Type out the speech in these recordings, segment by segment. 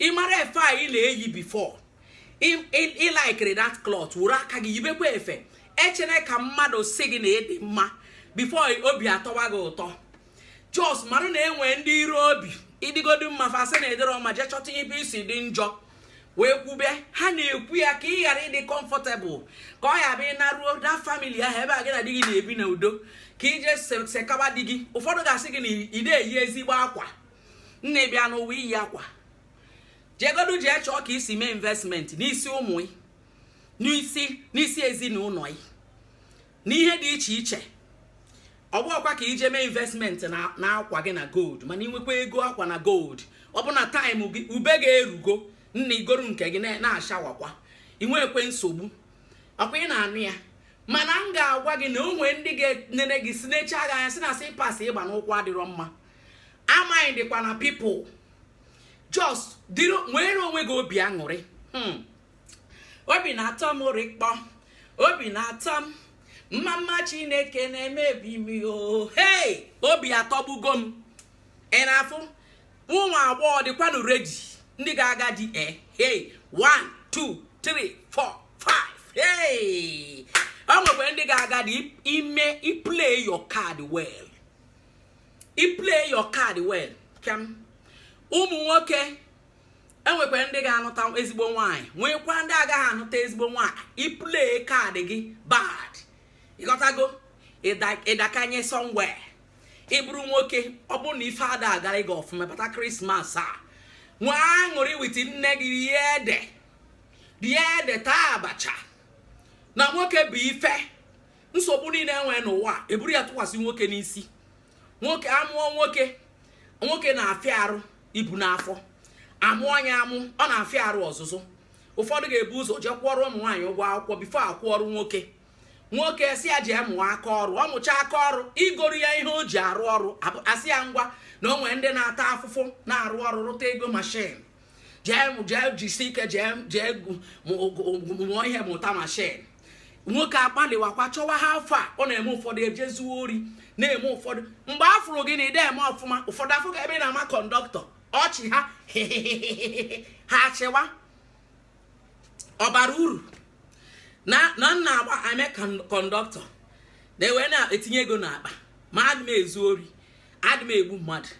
ị mara efe a ị na-eyi before ị likeiri that cloth were aka gị yibekwa efe echene ka mmadụ sị gị na ị dị mma before obi atọwa gị ụtọ just mara na enwe ndị iro obi ị dịgodi mma fa sị na ị dịrọ mma jee chọta ebe i si dị njọ wee kwube ha na-ekwu ya ka ị ghara ịdị comfortable ka ọ ya-abụ ị naruo that family ahụ ebe a gị na di gị na-ebi na udo ka i jee sekaba di gị ụfọdụ ga-asị gị na ide eyi ezigbo akwa nne bịa n'ụwa iyi akwa jegodu jee chọọ ka i si mee investment n'isi ụmụ ị n'isi n'isi ezinụlọ ị n'ihe dị iche iche ọ bụrọkwa ka i jee mee investment na na akwa gị na gold mana i nwekwaa ego akwa na gold ọ bụ na time gị ube ga-erugo nna i goro nke gị na- na-ashawakwa inwekwe nsogbu ọkwa ị na-anụ ya mana m ga-agwa gị na o nwee ndị ga-enene gị sị na ị chagha anya sị na slippers ị gba n'ụkwụ adịrọ mma amaghị dịkwa na people just dịrị nwere onwe gị obi aṅụrị hmm. obi na-atọ m rịkpọ obi na-atọ m mma mma chineke na-eme ebi m o hei obi atọgbugo m ị na-afụ ụmụ agbọghọ dịkwanụ ready ndị ga-aga di e eh, hei 1 2 3 4 5 hei o nwekwa ndị ga-aga di ime i play your card well i play your card well kee ụmụ nwoke e nwekwara ndị ga-anụta ezigbo nwaanyị nwekwa ndị agaghị anụta ezigbo nwaanyị i play card gị bad ị ghọtago ị dakanye somewhere ị bụrụ nwoke ọ bụrụ na ife ada agara gị ọfụma bata christmas a nwee aṅụrị with nne gị rie ede rie ede taa abacha na nwoke bụ ife nsogbu niile enwere n'ụwa eburu ya tụkwasị nwoke n'isi nwoke amụọ nwoke nwoke na-afịa arụ ibu n'afọ amụọ ya amụ ọ na-afịa arụ ọzụzụ ụfọdụ ga-ebu ụzọ jee kwụọrọ ụmụ nwaanyị ụgwọ akwụkwọ before akwụọrọ nwoke nwoke sị ya jee mụọ aka ọrụ ọ mụcha aka ọrụ i goro ya ihe o ji arụ ọrụ asị ya ngwa na o nwere ndị na-ata afụfụ na-arụ ọrụ rụta ego machine jee jee jisi ike jee jee mụọ ihe mụta machine nwoke agbalịwakwa chọwa ha afọ a ọ na-eme ụfọdụ ejee zuo ori na-eme ụfọdụ mgbe a fụrụ gị na ide eme ọfụma ụfọdụ afụ gị ebe ị na-ama conductor ọchị ha ha achịwa ọ bara uru na na m na-agba eme conductor na wee na-etinye ego n'akpa ma adị m ezu ori adị m egbu mmadụ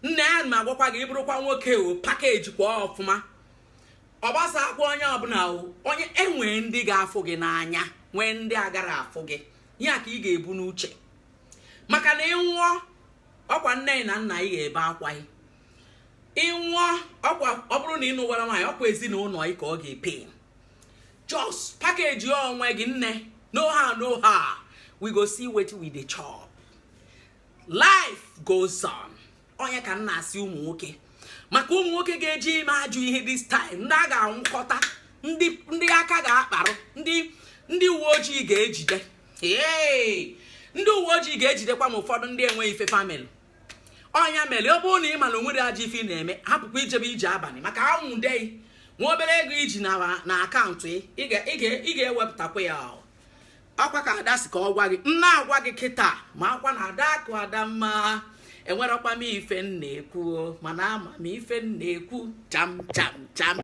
nna aya m agwakwa gị ị bụrụkwa nwoke o packagekwa ọfụma ọ gbasakwa onye ọbụla o onye enwee ndị ga-afụ gị n'anya nwee ndị agara afụ gị ya ka ị ga-ebu n'uche maka na ị nwụọ ọkwa nne na nna ị ga-ebe akwa ị ị nwụọ ọkwa ọ bụrụ na ị nụwara nwaanyị ọkwa ezinụlọ ị ka ọ ga-epain just package onwe gị nne no how no how we go see wetin we dey chop life goes on ọ nya ka m na-asị ụmụ nwoke maka ụmụ nwoke ga-eje ime ajọ ihe this time ndị a ga-anwụkọta ndị aka ga-akparụ ndị uwe ojii ga-ejide ee ndị uwe ojii ga-ejidekwa ma ụfọdụ ndị enweghị ife fa melụ ọ nya mere ọ bụrụ na ị ma na o nwere ajọ ife ị na-eme hapụkwa ijebe ije abalị maka a nwụde ị nwa obere ego i ji na account ị ga-ewepụtakwa ya ọkwa ka ada sị ka ọ gwa gị nna agwa gị kịta makwa na adaakụ adamma enwerọkwa m ife m na-ekwu mana ama m ife m na-ekwu cham cham cham